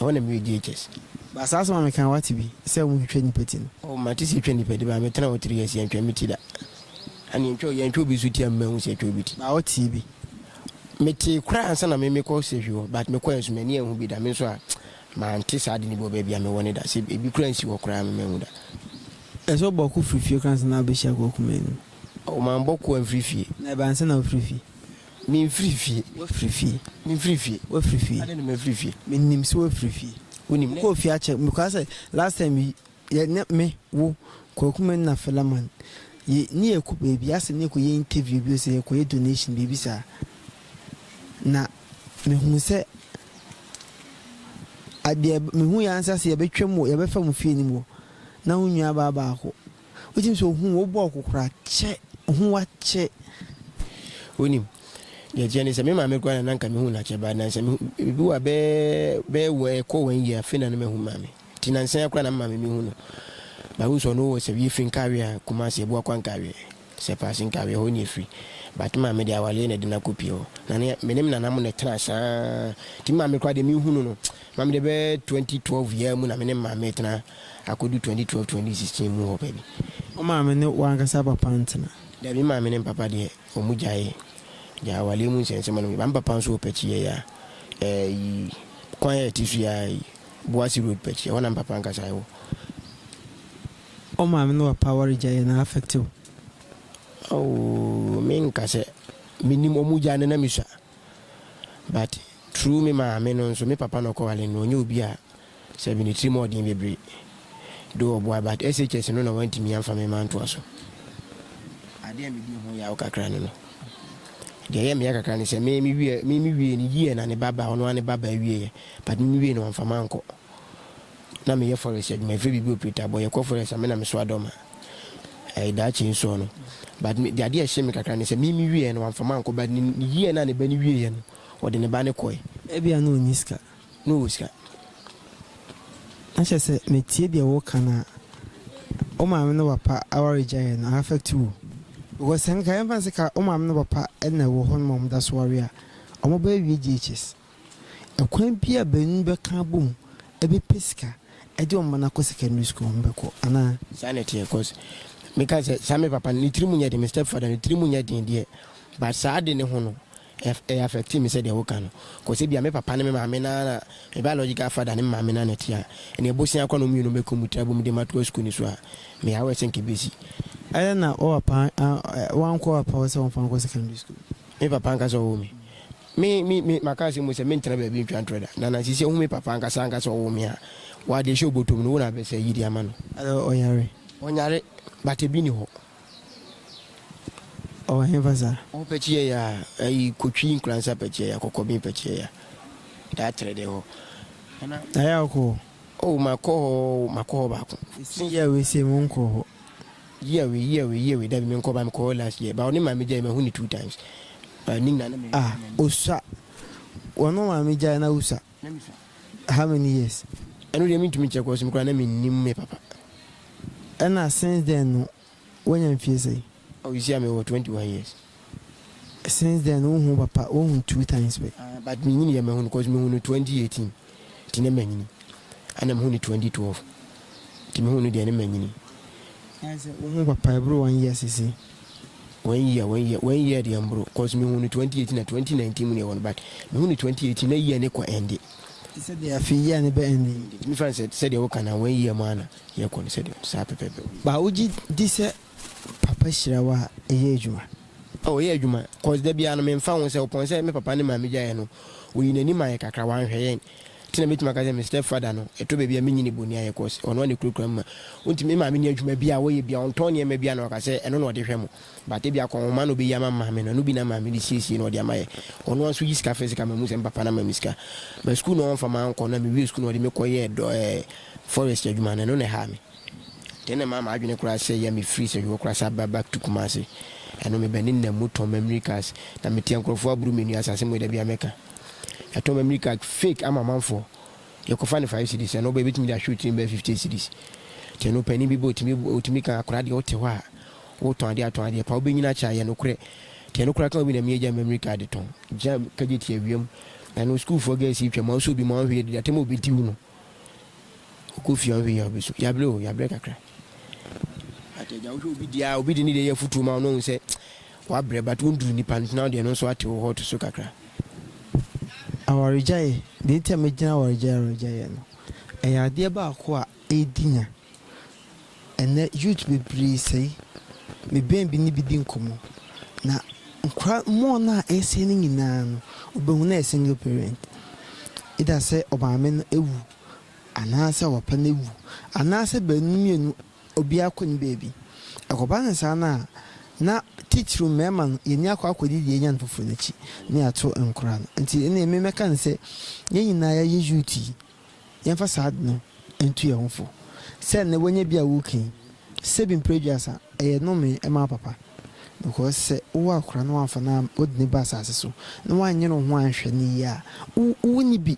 Ɛhɔ na meyɛ JHS. But saa asɛm a meka no wate bi sɛ ɔmo twitwa nnipa ti no? Oh mate sɛ yɛtwa nnipa ti but me tena hɔ three years yɛntwa me ti da. And yɛntwa yɛntwa obi nso ti amma mahu sɛ yɛtwa obi ti. But wotee bi? Metee koraa ansa na me mekɔ surgery hɔ but mekɔɛ nso m'ani anhu bi da me nso a mante saa ade no bi wɔ baabi a mewɔ no da sɛ ebi koraa nsi hɔ koraa me manhu da. Ɛsɛ wobɔ ɔko firi fie koraa ansa na wobɛhyia kɔ ɔko mmienu? Oh mambɔ ko amfiri fie. Na ɛbaa ansa na wofiri fie? Memfiri fie. Woafiri fie. Memfiri fie. Woafiri fie. Adɛn na mafiri fie? Menim sɛ woafiri fie. Wonim. Mekɔɔ fie akyɛ. Mekɔa sɛ last time bi yɛ ne me, wo, Kwaku me na Philemon yɛ ne yɛkɔ baabi asɛ ne yɛkɔyɛ interview bi o sɛ yɛkɔyɛ donation biribi saa. Na mehuu sɛ adeɛ mehuu yɛ ara ne sɛ asɛ yɛbɛtwam wɔ yɛbɛfa mo fie no mu hɔ na wo nnuabaa baako. Wotumi sɛ ohun wo bɔɔ kokora kyɛ ohun wakyɛ. Wonim, deɛ ɛteɛ ne sɛ me maame koraa na nanka mehu no akyɛ but nansa mehu ebi wɔ bɛɛ bɛɛ wɔ ɛkɔ wɔn yie afei na ne mahu maame ti nansa ya koraa na me maame mehu no but wohu sɛ ɔno wɔ sɛ yɛfiri nkaweɛ a Kumasi ɛbu akwa nkaweɛ sɛ paase nkaweɛ hɔ ne yɛfiri but maame deɛ awaleɛ na ɛde no akɔ pie hɔ na ne menem nana mo na ɛtena saa ti maame koraa deɛ mehu no no maame deɛ bɛɛ 2012 yɛ mu na menem maame ɛtena Akodu 2012 2016 mu hɔ pɛ bi. Wo maame ne w'ankasa papa ntena? Dabi, me maame ne me papa deɛ, wɔn gyaee. Gyaa awaleɛ mu nsɛnsɛm anom yi, but me papa nso wɔ Pɛkyiɛ yi a, ɛyi, kwan a ɛte so yi ara yi, Boase Road Pɛkyiɛ, ɛhɔ na me papa ankasa wɔ. Wo maame ne w'apa aware gyaeɛ no a affect wo? Aww, me nka sɛ menim, wɔn gyaa no na me sua, but through me maame no nso, me papa na ɔkɔwale no, ɔnyɛ obi a. Sɛ me ne tirim ɔɔ den bebree de ɔboa but SHS no na wantumi amfa me ma ntoa so. Adeɛ a medi ho yaw kakra ne no. Deɛ ɛyɛ me ya kakra ne sɛ me me wiɛ me me wiee no year na ne ba ba ɔno ara ne ba ba wieɛ but me me wiee no wamfa ma ankɔ. Na me yɛ forest adwuma yɛfrɛ biribi operator bɔ yɛkɔ forest a me na me soa dɔm a ɛyɛ daakye nsoɔ no but me adeɛ a ɛhye me kakra ne sɛ me me wieɛ no wamfa ma ankɔ but ne year no a ne ba no wieɛ no ɔde ne ba no kɔɛ. Ebia na ɔnni sika na ɔwɔ sika. Na kyerɛ sɛ metie deɛ woreka no a, wo maame ne wo papa aware gyaeɛ no a affect wo. Because sɛ nka yɛmfa no sɛ ka wo maame ne wo papa na ɛwɔ hɔ nom a wɔda so ware a, wɔbɛwie JHS. Ɛkwan bi a baanu bɛka abom bɛpɛ sika de wɔn mma no akɔ secondary school a, wɔbɛkɔ anaa? Saa na ɛteɛ cause meka sɛ saa me papa no ne tiri mu nyɛ den, me stepfather no ne tiri mu nyɛ den deɛ but saa ade no ho no, Ɛyɛ affect me sɛdeɛ woka no cos ebia me papa ne me maame no ara na me biological father ne me maame no ara na ɛte a ɛnna abosea kora no mmienu mɛkɔ mu tra bom de matoa sukuu no so a meyɛ aware sɛ nka ɛbɛsi. Ɛyɛ na wo papa wankɔ wo papa hɔ sɛ wɔmfa no nkɔ secondary school? Me papa ankasa ɔwoo me. Me me me maka asɛm mu sɛ mentena baabi ntwa ntorɔ da. Na na sisi a wohu me papa ankasa ankasa ɔwoo me a wɔ adeɛ hyɛ wo bɔtɔ mu no wo na abɛsɛ ayi de ama no. Ɔyare? Ɔnyare but ɛbi nni hɔ. Ɔwɔ henfa sa? Wo pɛkyiyɛ ya ayi kotwi nkuransa pɛkyiyɛ ya kɔkɔ bin pɛkyiyɛ ya daa trɛ dɛ hɔ ana. Ayɛ a wokɔ hɔ? Oh ma kɔ hɔ ma kɔ hɔ baako. Ɛsi year wei sei mo nkɔ hɔ. Year wei year wei year wei dabi me nkɔ ba me kɔ hɔ last year ba ɔne maame gyae ma hu ne two times ba ne nyina na me. Ah osua wɔne wo maame gyae na wo sua. How many years? Ɛno deɛ mentumi nkyerɛ cause me koraa na mennim me papa. Ɛna since then no woanya mfie sɛn? Oh you see a mewɔ twenty one years. Since then no wohu wo papa woahu two times pɛ? Ah but menyini yɛ mahu no cause mehu no twenty eighteen nti na manyini ɛna mehu no twenty twelve nti mehu no deɛ na manyini. Ɛne sɛ wohu wo papa ɛboro one year seesei? One year one year one year deɛ mboro cause mehu no twenty eighteen na twenty nineteen mu na ɛwɔ no but mehu no twenty eighteen na year ne kɔ ɛnde. Te sɛ deɛ afei year ne bɛ ɛnde yi. Ɛntumi fa no sɛ sɛdeɛ woka no a one year mu ara na year kɔ no sɛdeɛ ɔno saa pɛpɛɛpɛ. But wogye di sɛ papa hyira wo a ɛyɛ adwuma? Oh ɛyɛ adwuma cause da biara no memfa ho sɛ ɔpɔn sɛ me papa ne maame gyaeɛ no wɔyii n'ani maeɛ kakra wɔanhwɛ yɛn Nti na mɛtumi aka sɛ me step father no, ɛtɔ baabi a menyi no boniayɛ cos ɔno a na ɛkurakura me ma. Wonti me maame nni adwuma biara a ɔyɛ biara, ɔntɔn nneɛma biara na waka sɛ ɛno na ɔde hwɛ mo. But ebia kɔn nwoma na ɔbɛyi ama maame no, ɛno bi na maame de siesie na ɔde ama yɛ. Ɔno ara nso yi sika frɛ sika ma mehu sɛ me papa no ama me sika. But school no ɔmfa mankɔ na mewie school no ɔde me kɔyɛɛ dɔ ɛɛ forest adwuma no ɛno na ɛhaa me. Nti ɛno na ɛmaa m'adwene koraa sɛeɛ a mefiri Sɛhwɛ hɔ koraa san baa back to Kumasi. Ɛno meba ne nna mu tɔn memory cars na meteɛ nkurɔfoɔ aboro m'ani asase mu yi da biara mɛka. yɛatɔ ma mini card fake ama amanfoɔ yɛkɔfa no five cedis ɛno ɔba ebetumi de ahwɛ wo tirim bɛyɛ fifty cedis te no panyin bi bɔ otumi otumi kan akora deɛ wote hɔ a wotɔn adeɛ atɔn adeɛ pa wobɛnyina akyɛ ayɛ no korɛ te no kora kan obi na mi agya mɛmiri card tɔn gya kagye te awiam ɛno sukuufoɔ gɛɛsi twɛ ma ɔsɛ obi ma ɔnhwɛ yɛ de atɛm obi ti wo no Wokɔ fie a wohwɛ yie a wobɛsu. Yɛabrɛ o, yɛabrɛ kakra. But agya wohwɛ obi deɛ a, obi de ne deɛ yɛ afotuo ma wo na wohu sɛ wabrɛ but wonduru nipa no so na wo deɛ no nso ate wo hɔ to so kakra. Awaregyaeɛ, deɛ nti a mɛgyina awaregyaeɛ awaregyaeɛ no, ɛyɛ adeɛ baako a ɛdi nya. Ɛnnɛ youth bebree sɛe. Mebɛn bi ne bi di nkɔmmɔ, na nkora mmoa no a ɛresɛe no nyinaa no, wobɛhu no yɛ single parent. Either sɛ ɔmaame no awu, anaasɛ ɔpapa no awu, anaasɛ baanu no mmienu obiara kɔ ne baabi. Ɛkɔba no saa no a, na titiriw mmarima no, yɛn ani akɔ akɔdi deɛ yɛanya no foforo no akyi, na yɛato nkora no. Nti ɛnneɛ me mɛka no sɛ, yɛn nyinaa yɛyɛ youth yi, Yɛmfa saa ade no ntu yɛn ho fo. Sɛ nnɛ woanya bi a woreki, sɛ bi mprɛ aduasa, ɛyɛ nomee, ɛma wo papa. Because sɛ wowɔ akora na woamfa no am wode no ba asase so, na woanyere wo ho anhwɛ no yie a, wo wonni bi.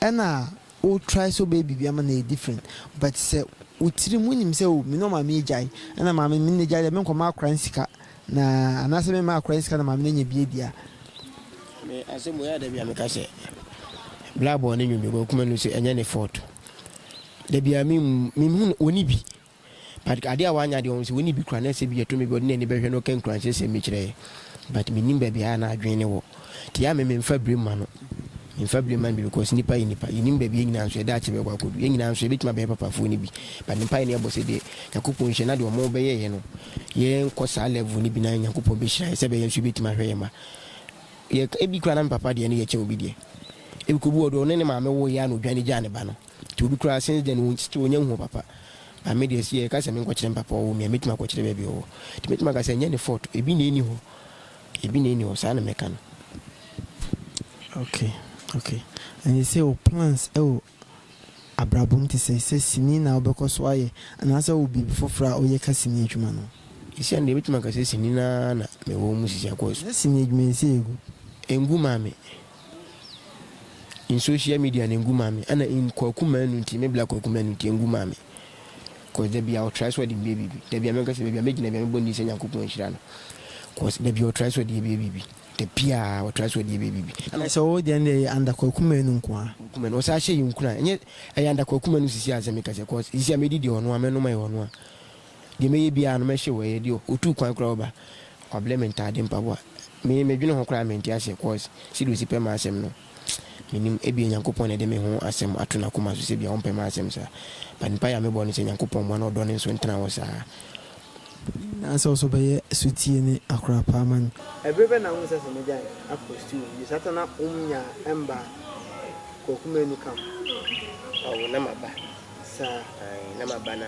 Ɛna wo try sɛ wobɛyɛ biribi ama no ayɛ different, but sɛ wo tirim wonim sɛ oh, me ne ɔmaame agyae, ɛna maame me ne n'agyae deɛ menkɔma akora no sika Na anaasɛ me mma akora ne sika na maame no anya bi adi a. Me asɛm wei a da bi a meka sɛ Bla bɔɔ ne nwom bi wɔ akuma no nso ɛnyɛ ne fault da bi a me me hu no ɔni bi but adeɛ a wanya deɛ ɔhu sɛ ɔni bi kora na sɛ bi ɛto me bi ɔde n'ani bɛhwɛ na ɔka nkuranhyɛ sɛm bi kyerɛ yɛ but me nim baabi a na adwene ne wɔ nti yɛ a me me mfa bire ma no me mfa bire ma no bi because nipa yɛ nipa yɛ nim baabi yɛ nyinaa nso yɛda akyɛ bɛkɔ akɔdu yɛ nyinaa nso yɛbɛtumi abɛyɛ papafoɔ no bi but me mpaeɛ ne ɛbɔ sɛ deɛ Nyankopɔn nhyɛ na deɛ ɔmo bɛyɛ yɛ no yɛnkɔ saa level no bi na Nyankopɔn bɛhyira yɛn sɛ bɛyɛ nso yɛbɛtumi ahwɛ yɛn mma. Yɛ, ebi koraa na me papa deɛ no yɛ kyɛn obi deɛ. Ebi koraa obi wɔ hɔ deɛ ɔne ne maame woeɛ ara na odwane gyaa ne ba no. Nti obi koraa since then no still ɔnnya nhuu papa. But me deɛ sɛ yɛka sɛ menkɔkyerɛ me papa a ɔwɔ mu yi a, mɛtumi akɔkyerɛ baabi a ɔwɔ. Nti mɛtumi aka sɛ ɛnnyɛ ne fault, ebi na ɛnni hɔ. Ebi na ɛnni hɔ, saa na mɛka no. Okay, okay. Ɛne sɛ wo plans wɔ Abrabɔ mu te sɛ sɛ sini na wobɛkɔ so ayɛ anaasɛ wowɔ biribi foforo a woyɛ ka sini adwuma no ho? Seesei no deɛ, mɛtumi aka sɛ sini no ara na mewɔ mu seesei akɔ so. Ná sini adwuma nsi egu? Engu mmaa me. In social media no engu mmaa me. Ɛna in Kwaku Manu nti, me Black Kwaku Manu nti engu mmaa me. Cause da biara ɔtrae sɛ ɔde meyɛ biribi. Da biara mɛka sɛ baabi a mɛgyina biara mɛbɔ ne din sɛ Nyankopɔn nhyira no. Cause da biara ɔtrae sɛ ɔde yɛ meyɛ biribi. Da biaa ɔtra so ɔdeɛ bɛyɛ biribi. Ɛna sɛ wo deɛ no deɛ ɛyɛ under Kwaku Manu nkoaa. Kwaku Manu ɔsaa hyɛ yɛn nkuran ɛnyɛ ɛyɛ under Kwaku Manu sisi ansɛ meka sɛ cos sisi a mɛdi deɛ ɔnoa mɛnom ɛyɛ ɔnoa deɛ mɛyɛ biaa no mɛhyew ɛyɛ deɛ ɔtuu kwan koraa ɔba wablɛ me ntaade mpaboa me medwene ho koraa mente aseɛ cos sɛdeɛ ɔsi pɛ m'asɛm no. Menim, ebia Nyankopɔn na ɛde me ho asɛm ato n'akoma so sɛ ebia ɔmpɛ m'asɛm saa. But mpae a mebɔ ne sɛ Nyankopɔn mmoa na ɔdɔ ne nso ntena hɔ saa. Na sɛ ɔsɔ bɛyɛ sotie ne akora paa ma no. Ɛbere bɛ na wohu sɛ sɛ mogyae akɔ stew no di saa ta na wom nyaa ɛmba Kwaku Manu camp? Awo na maba saa na maba na.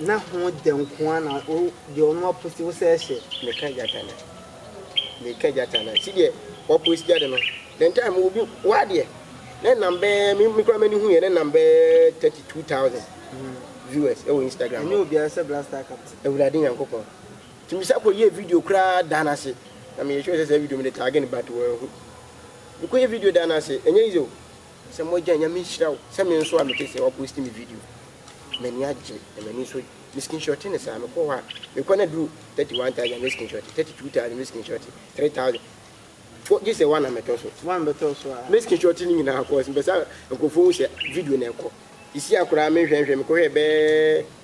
Na ho dɛ nko ara na wo deɛ ɔno aposi wo sɛ hyɛ. Meka gyata na meka gyata na si deɛ waposi gyata no ne ntaa mu obi wa deɛ ne nam bɛɛ me me kura m'ani hu yɛ ne nam bɛɛ thirty two thousand viewers ɛwɔ Instagram. Ɛnyɛ obiara sɛ blaster captain. Awurade Nyankopɔn tumi sa kɔ yɛ video koraa da n'ase na meyɛ sure sɛ sɛ video mi de taage no but wɔahu mekɔ yɛ video da n'ase ɛnyɛ easy o. Sɛ mo agya nyame nhyira wo. Sɛ me nso a mete sɛ wa post me video m'ani agye na m'ani nso me screenshot no saa mekɔ hɔ a mekɔ na duru thirty one thousand me screenshot thirty two thousand me screenshot three thousand fo gye sɛ one a mɛtɔ so one mɛtɔ so a me screenshot no nyinaa cause mpɛ sɛ nkurɔfoɔ hu sɛ video na ɛkɔ sisi a koraa menhwɛ nhwɛ mekɔhwɛ bɛɛ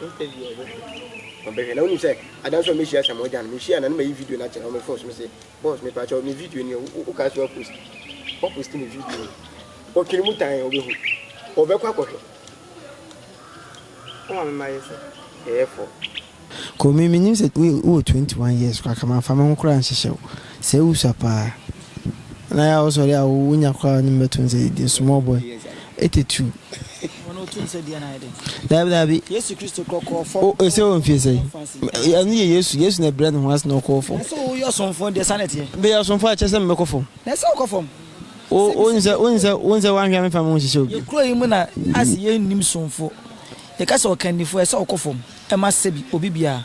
Wompɛ bi a ɔbɛhwɛ. Ɔbɛhwɛ na wonim sɛ ada nso a mɛhyia Sam Ogya no mehyia na na mayi video no akyerɛ wɔ me phone so mese boss mepa kyɛw me video nie wokaa sɛ woapost woapost me video yi ɔtwene mu tan a ɔbɛhu ɔbɛkɔ akɔhwɛ woma me ma yɛ sɛ ɛyɛ fɔ. Kɔ me menim sɛ wowɔ 21 years koraa ka mamfa me ho koraa nhyehyɛ wo. Sɛ wosua paa na yɛ a wosɔre a wonya koraa wonye me bɛto nsa didi, small boy, etetu. Wɔn oto nsa di anayɛ dɛ. Daabi daabi. Yesu Kristo kɔ kɔɔ fam. O ese wɔ mfie sɛ? Ɛno yɛ Yesu, Yesu na ɛbrɛ ne ho ase na ɔkɔɔ fam. Ɛsɛ woyɛ ɔsomfo deɛ saa na ɛteɛ. Bɛyɛ ɔsomfo a ɛkyerɛ sɛ mebɛkɔ fam. Na ɛsɛ wokɔ fam. O woni sɛ woni sɛ woni sɛ wanhwɛ a memfa me ho nhyehyɛ obi. Yɛ kuro yi mu na ase yɛ nnim somfo. Yɛka sɛ ɔkannifo a ɛsɛ ɔkɔ fam, ɛma sɛbi obi biara.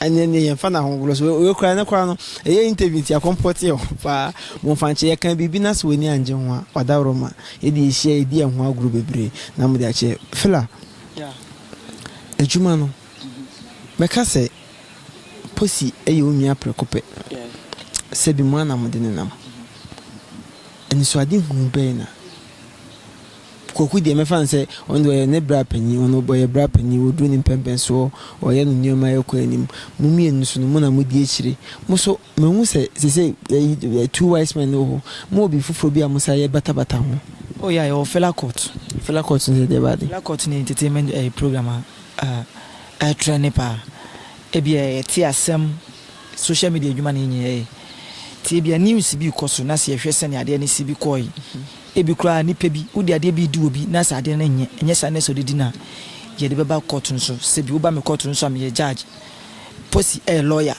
Ɛnneɛ nneɛ yɛmfa no ahogorɔ so. Wei koraa ɛnɛ koraa no ɛyɛ interview nti akɔmpɔ te hɔ paa. Momfankye yɛka biribi na sɛ w'ani angye ho a ɔdaworo ma yɛde ahyia yɛdi ɛho agorɔ bebree na mode akyɛ. Fela, adwuma no mɛka sɛ Posi yɛ wo nua prɛko pɛ. Sɛbi mo anamode nenam. Anisoadehunu bɛn na Kwaku deɛ mɛfa no sɛ ɔno deɛ ɔyɛ ne bra panin, ɔno ɔyɛ bra panin, ɔduru ne mpɛnpɛnsoɔ, ɔyɛ no nneɛma ɛkɔ anim. Mo mmienu nso no, mo na modi akyire. Mo nso, mahu sɛ seesei ɛyi two wise men no wɔ hɔ, mowɔ biribi foforɔ bi a mosan yɛ batabata ho. Oh ya yɛwɔ Fela Court. Fela Court no deɛ ɛdeɛ baa de? Fela Court no yɛ entertainment ɛɛ program a ɛretrɛne paa. Ebia yɛte asɛm, social media adwuma na yɛn nyinaa yɛ. Nti ebia news bi rekɔ so na sɛ yɛhwɛ sɛdeɛ adeɛ no si bi kɔɔe. Ebi koraa nnipa bi, wode adeɛ bi redi obi na sɛ adeɛ no nyɛ, ɛnyɛ saa na ɛsɛ sɛ wode di no a, yɛde bɛba kɔɔto no so. Sɛ bi woba me kɔɔto no so a, meyɛ judge. Posi yɛ lɔya.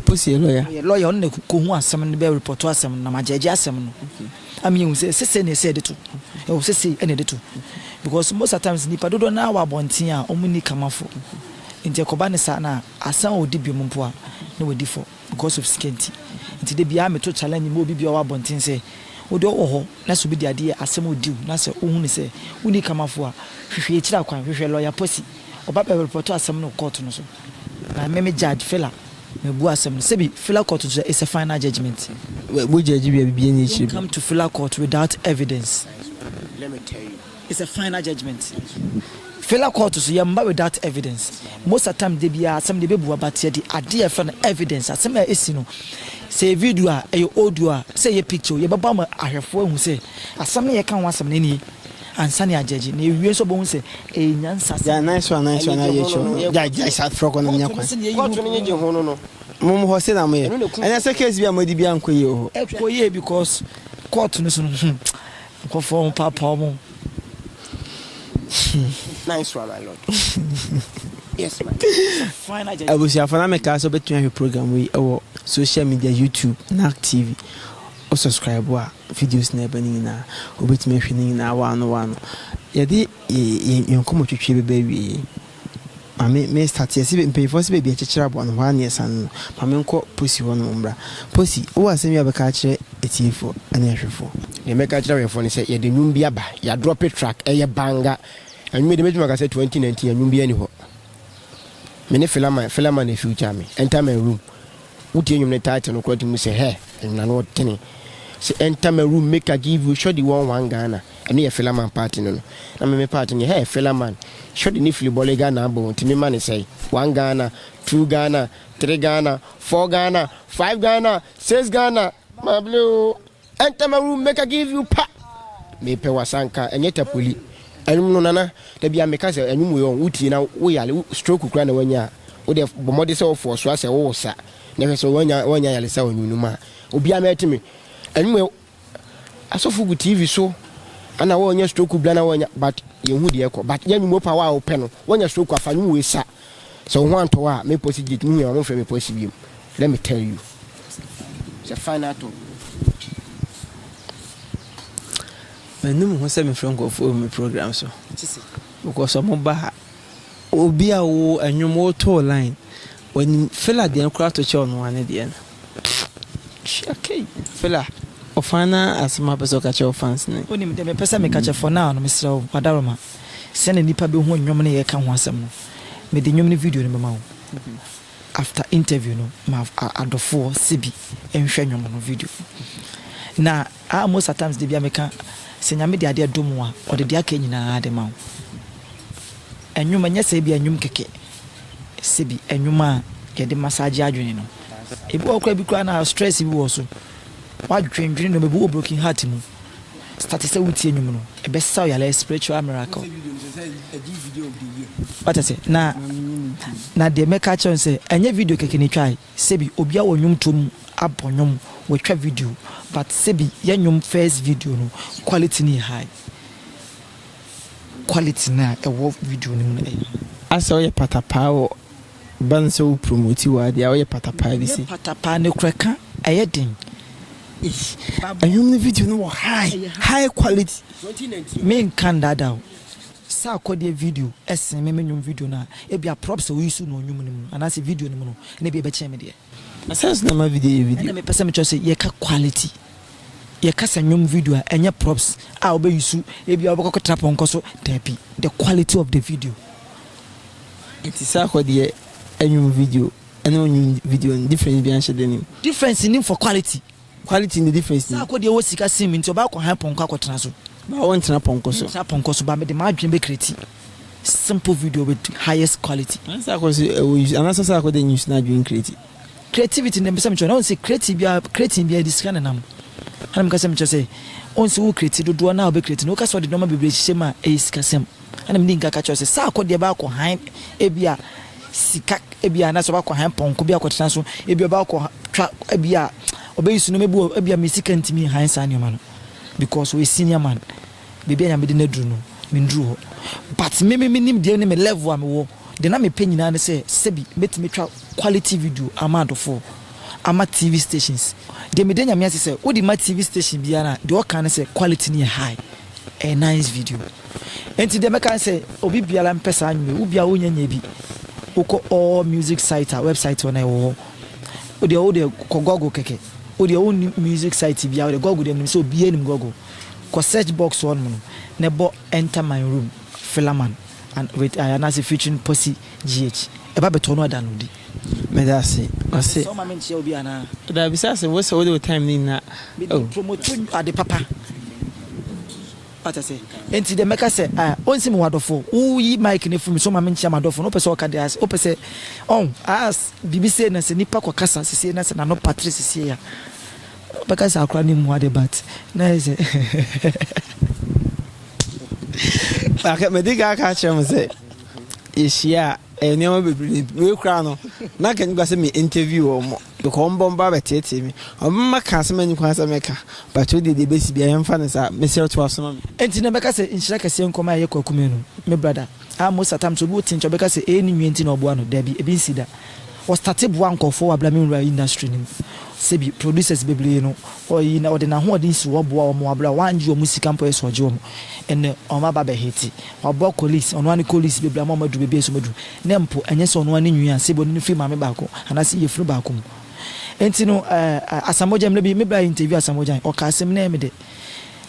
Posi yɛ lɔya? Ɔyɛ lɔya, ɔno na ɛkɔhu asɛm no, bɛ repɔto asɛm no na magyɛɛgye asɛm no ama yɛahu sɛ sesei na ɛsɛ sɛ yɛde to. Ɛwɔ sesei na yɛde to because most at times nnipa dodoɔ no ara wɔ abɔnten a wɔnni kamafoɔ nti ɛkɔba no saa no a, asan ɔdi biom mpo a na wadi fɔ. Because of sika nti. Nti da biara me to challenge ma obi bia ɔwɔ abɔnten sɛ, wo deɛ ɔwɔ hɔ na sɛ obi de adeɛ yɛ asɛm or deal na sɛ wohunu sɛ wonni kamafo a, hwehwɛ akyiri akwan, hwehwɛ lawyer posse, ɔba bɛ report asɛm no wɔ court no so. Na me me judge Fela mabua asɛm no. Sɛbi Fela court nso it's a final judgement. Wo judge wie a biribiara nni akyire bio. Don't come to Fela court without evidence. Let me tell you. It's a final judgement fela court so yɛmma without evidence most a time da biara asɛm de bɛbua but yɛde adeɛ a yɛfrɛ no evidence asɛm a ɛsi no sɛ yɛ video a ɛyɛ audio a sɛ yɛ picture o yɛbɛbɔ ama ahwɛfoɔ ahu sɛ asɛm no yɛka ho asɛm no nie ansa ne agyɛgye na ɛwie nso bɛhu sɛ ɛyɛ nyansa asɛm Gyae nan so a nan so a na yɛ akyi no gyae gyae saa frɛ kɔ na menya kwan court no nye gye ho no no mom hɔ se na mo yɛ ɛnɛ sɛ case bi a mo adi bi ankɔ yie wɔ hɔ. ɛkɔ yie because court no so no hmm Nkorɔfoɔ ho paapa ɔmo hmm. Abusuafoɔ na mekaa sɛ wobɛtumi ahwɛ program wei ɛwɔ social media YouTube NAC TV o subscribe a videos na ɛbɛ no nyinaa wobɛtumi ahwɛ no nyinaa waano waano yɛde yɛnkɔmmɔ twitwie bɛbɛ awie Ma me me start yɛ se mpanyinfoɔ se baabi ɛkyekyere aboa no hɔ a ne ɛsan no ma me nkɔ Posi hɔ nom mmra. Posi, wowɔ asɛm bi a wobɛka akyerɛ atiefoɔ ne ahwɛfoɔ? Deɛ mɛka akyerɛ awɛfoɔ ne sɛ yɛde nwom bi aba, yɛadrɔpe track, ɛyɛ banga. Nwom yi deɛ mɛtumi aka sɛ 2019 nwom biara nni hɔ. Me ne Fela man, Fela man na ɛfeature me, Enter my room. Wo tie nwom ne title no kora tumi sɛ hɛ ɛnyina no ɔtene sɛ enter my room make I give you shorty one one Ghana ɛno yɛ fela man part no no na me me part no yɛ hɛ fela man shorty ne fili bɔle Ghana abɔ nti me ma ne sɛe one Ghana two Ghana three Ghana four Ghana five Ghana six Ghana mable oo. Ntɛm awuru meka give you pa mepɛ wasanka ɛnyɛ tapoli ɛnwom no nana dabia meka sɛ ɛnwom wei ɔn wotie na woyale stroke kura na wanya a wode bɔmɔde sɛ wɔfɔ ɔsoro asɛ wowɔ sa na hwɛ sɛ wanya wanya yale sa ɔnwom no mu a obia mɛte me ɛnwom wei asɔfo gu tv so ana wɔnya stroke bla na wɔnya but yɛhu deɛ ɛkɔ but yɛ nwom pa wa wopɛ no wɔnya stroke afa nwom wei sa Sɛ wo ho antɔ wo a, me posi gate, muhia wo a momfrɛ me posi biom, let me tell you sɛ fine atɔ wo. Mannu me ho sɛ mefrɛ nkurɔfoɔ wɔ me program so because ɔmo ba ha. Obi a wo ɛnwom wotoo line, ɔnim fela deɛ koraa to kyɛ ɔnoaa ne deɛ no. Fela, ɔfaa no ara asɛm a wopɛ sɛ ɔka kyerɛ wo fans no. Wonim, deɛ mepɛ sɛ meka kyerɛ for now no, mesrɛ wo, Wadaroma, sɛdeɛ nnipa bɛhu nnwom no yɛka ho asɛm no, mede nnwom no video no bɛma wo. After interview no, ma adɔfoɔ, Sebi, nhwɛ nnwom no video no. Na. Ah most at times de bia meka sɛ nyame de adeɛ dom wo a ɔde deɛ aka nyinaa de ma wo ɛnwom ɛnyɛ sɛ ebia ɛnwom kɛkɛ sɛbi ɛnwom a yɛde massage adwene no ebi wɔ hɔ koraa bi koraa na stress bi wɔ so wadwendwene nneɛma ebi wɔ broken heart mu start sɛ wotie nnwom no ɛbɛsa wo yare spiritual miracle wate ase na na deɛ mɛka akyerɛ no sɛ ɛnyɛ video kɛkɛ na ɛtwae Sebi obi awɔ nwomtoɔ mu abɔ nwom watwa video but sebi yɛ nwom first video no quality no yɛ high quality no a ɛwɔ video no mu no ɛyɛ high. Asɛ woyɛ patapaa wɔ bɛn sɛ wo promote wo adeɛ a woyɛ patapaa bi se. Nyɛ patapaa ne kora ka ɛyɛ den eii. Ɛnwom no video no wɔ high high quality menka ndaadaa wo. Sɛ akɔdeɛ video sen me me nnwom video no a, ebia props a woyi so no wɔ nnwom no mu anaasɛ video no mu no na ebia ɛbɛkyɛn me deɛ. Na sɛn nso na ɛma video yɛ video? Ɛnna mepɛ sɛ mekyerɛ wo sɛ yɛka quality. Yɛka sɛ nnwom video a, ɛnyɛ props a wobɛyi so, ebia wobɛkɔ akɔtra pɔnkɔ so, daabi, the quality of the video. Nti sɛ akɔdeɛ nnwom video ne wo nnwom video no, difference biara nhyɛ da nnim? Difference nnim for quality. Quality na ɛdi first. Saa akodeɛ wɔ sika sen mu nti ɔbaa kɔ han pɔnkɔ akɔtena so. Baa wo ntena pɔnkɔ so. Me ntra pɔnkɔ so baa me de m'adwene bɛ creati simple video with highest quality. Ana saa akodeɛ nso ɛwɔ use ana sɛ saa akodeɛ nyɛ use na adwene creati. Creativity na mpɛsɛ mekyerɛ na ɔnsɛ creati biara creating biara ɛde sika na ɛnam ana meka sɛ mekyerɛ sɛ ɔnsɛ wo creati dodoɔ na ɔbɛ creati no woka sɛ ɔde nnoɔma bebree hyehyɛ mu a ɛyɛ sika sɛm. Ɛna mede nka ka kyerɛ wo sɛ, Saa akɔdeɛ bɛakɔ hann, ebia sika, ebia anaasɛ ɔbɛakɔ hann pɔnkɔ bi akɔtena so, ebia ɔbɛakɔtwa, ebia ɔbɛyi so nneɛma bi wɔ, ebia me sika ntumi hann saa nneɛma no, because ɔyɛ senior man, baabi a Nyame de no aduru no, menduru hɔ. But me me menim deɛ ne me level a mewɔ, deɛ na mepɛ nyinaa ne sɛ, sɛbi mɛtumi atwa quality video ama adɔfoɔ, ama TV stations. Deɛ meda Nyame ase sɛ, wode ma TV station biara a, deɛ wɔka ne sɛ, quality no yɛ high, ɛyɛ nice video. Enti deɛ mɛka ne sɛ obi biara mpɛ saa nnwuma yi, wo biara wonyɛ nyɛ bi. Wokɔ all music site a, website wɔ no a ɛwɔ hɔ. Wo deɛ wo deɛ kɔ Google kɛkɛ. Wo deɛ wonni music site biara, wo deɛ Google deɛ menim sɛ obiara nim Google. Kɔ search box hɔnom no na ɛbɔ Enter My Room Philaman and with I anaasɛ featuring Posse GH. Ɛba bɛtɔ no a downloadi. Meda ase. Ɔse. Sɛ woma me nkyea obi anaa? Daabi sɛ ase wose wode wo time no nyinaa oh. Mede promoto ade papa. Wate ase? Enti deɛ mɛka sɛ, ah, onsi me w'adɔfo. Wo yi mic no firi me so ma me nkyea m'adɔfo no. Wopɛ sɛ ɔka deɛ as, wopɛ sɛ, ɔn, as, biribi sei na sɛ nipa kɔ kasa sesiei na sɛ n'ano patre sesiei a, wobɛka sɛ akora no mmua de but na ayɛ sɛ Maka, madi kan aka akyerɛ mo sɛ yɛhyia a, ɛyɛ nneɛma bebree na ɛbi. Wei koraa no, na anka nnipa sɛ me interview wɔn. Because ɔmo bɔ mba bɛtseetsee me. Ɔmo mma kã asɛm a innyi kwan sɛ mɛkã. But wo de, dza ebesi biara yɛmfa no saa. Meserɛ wo to aso ma me. Enti na mɛka sɛ nhyira kɛseɛ nkɔ ma ɛyɛ Kwaku Manu, me brada, a most a times obi wo tinkya ɔbɛka sɛ ɛyɛ ne nua nti na ɔboa no, dabi, ɛbi nsi da. Wɔ starte boa nkorɔfoɔ wɔ abira me nwura industry no mu. Sɛbi, producers bebree no, ɔyi na ɔde n'ahoɔden si hɔ boa wɔn wɔ abira, wangye wɔn sika mpo yɛ sɛ ɔgye wɔn, ɛnɛ wɔn aba bɛ hiti. Ɔbɔ Collis, ɔno ara ne Collis bebree a wɔama adu baabi a ɛsɛ sɛ wɔadu, na mpo ɛnyɛ sɛ ɔno ara ne nwi a sebo ne no firi maame baako anaasɛ yafunu baako mu. Enti no, ɛɛ, Asamoah Gyan, mmerɛ bi me bra yɛ interview Asamoah Gyan, ɔkaa asɛm, na ɛyɛ me dɛ.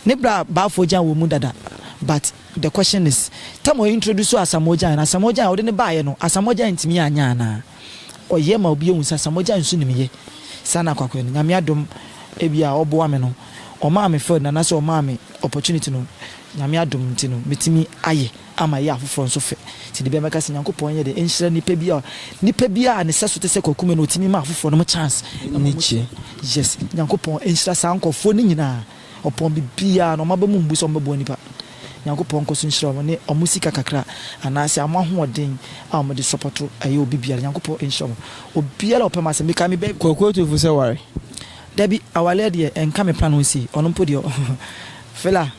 Ne bra Balfour Gyan wɔ mu dada, but the question is, time a ɔintroduce Asamoah Gyan no, Asamoah Gyan a ɔde no baeɛ no, Asamoah Gyan antumi anyɛ anaa? ɔyɛ ma obi ehu sasa mogya nsu nim yɛ saa na kwakoa no nyame adom ebi a ɔboa me no ɔmaa me field no anase ɔmaa me opportunity no nyame adom nti no metumi ayɛ ama yɛ afoforɔ nso fɛ ti de bɛ mɛka sɛ nyankopɔn yɛ de nhyira nipa bi a nipa bi a ne sɛ so te sɛ kwakume no ɔtumi ma afoforɔ no mo chance ne kyi yes nyankopɔn nhyira saa nkɔfoɔ no nyinaa. Ɔpɔn biribiara na wɔn aba mu mbu sɛ wɔbɛboa nnipa. Nyankopɔn nkɔ so nhyira wɔn ne wɔn sika kakra anaasɛ wɔn ahoɔden a wɔde sɔpɔto ɛyɛ obi biara. Nyankopɔn nhyira wɔn obiara a ɔpɛ m'asɛm. Mekae me bɛ. Kwaku Otufo sɛ ware. Dabi, awaleɛ deɛ ɛnka me plan ho sei. Ɔno mpo deɛ ɔ Fela.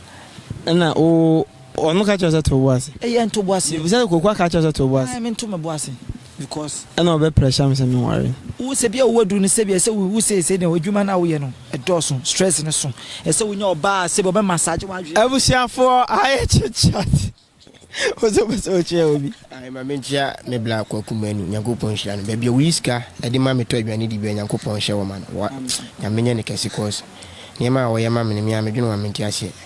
Ɛna wo ɔno ka kyerɛ wo sɛ to wo bo ase? Ɛyɛ nto bo ase. Mebisa sɛ Kwaku aka akyerɛ wo sɛ to wo bo ase? Ae, mento me bo ase. Because. Ɛna ɔbɛ pressure me sɛ me nware. Wo sɛ bia wo waduru no sɛbi ɛsɛ wo sɛsɛ no adwuma no a woyɛ no ɛdɔɔso stress no so ɛsɛ wonya ɔbaa a sɛbi ɔbɛ massage wadwene. Abusuafoɔ ayɛ chit chat wo nso wopɛ sɛ wokyea obi. Ae ma menkyea me bla kwaku manu nyankopɔn nhyira no baabi a woyi sika de ma me tɔ aduane di bia nyankopɔn nhyɛ wɔ ma no wa nyame nyɛ no kɛse cos nneɛma a wɔyɛ ma me no me a medwene ho a mente aseɛ.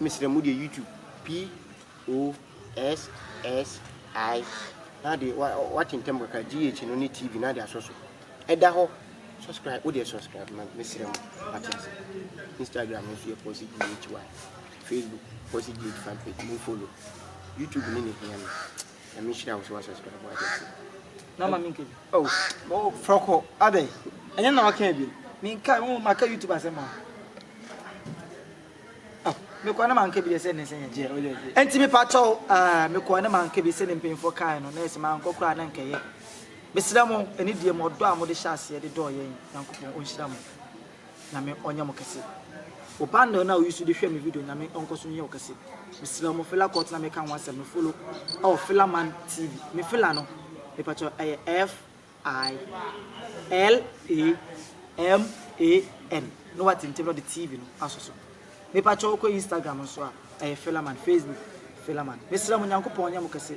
Mesrɛ mo deɛ YouTube POSSI na de wa wate ntɛm kakra GH no ne TV na de asɔ so ɛda hɔ subscribe wo deɛ subscribe ma mesrɛ mo wate ase Instagram nso yɛ Posse GHY Facebook Posse GH fan page mo follow YouTube ne ne hia me nyame nhyira wo so wasubscribe wo ade ase na ma menka bi oh oh frɔkɔ adɛn ɛnyɛ na waka bi menka wo maka youtube asɛm a oh mekɔ ne manka bi deɛ sɛ ne sɛ yɛgyeɛ oh yeah yeah ɛnti mepa kyɛw ah mekɔ ne manka bi sɛ ne mpanyinfoɔ kae no na ɛsɛ mankɔ koraa na nkɛyɛ mesrɛ mo ɛne deɛ mo ɔdɔ a mode hyɛ aseɛ de dɔɔ yɛn nyankopɔn ɔnhyira mo Nyame ɔnyɛ mo kɛse. O bundle no a ɔyi so de hwɛ me video Nyame ɔnkɔ so nyɛ wo kɛse. Mesrɛ wo mo Fela Kurt na meka ho asɛm me follow ɛwɔ Fela Man TV. Me Fela no me pakyɛ wo ɛyɛ F I L A M A N na watintim na ɔde TV no aso so. Me pakyɛ wo kɔ Instagram nso a ɛyɛ Fela Man, Facebook Fela Man. Mesrɛ mo Nyankopɔn ɔnyɛ mo kɛse.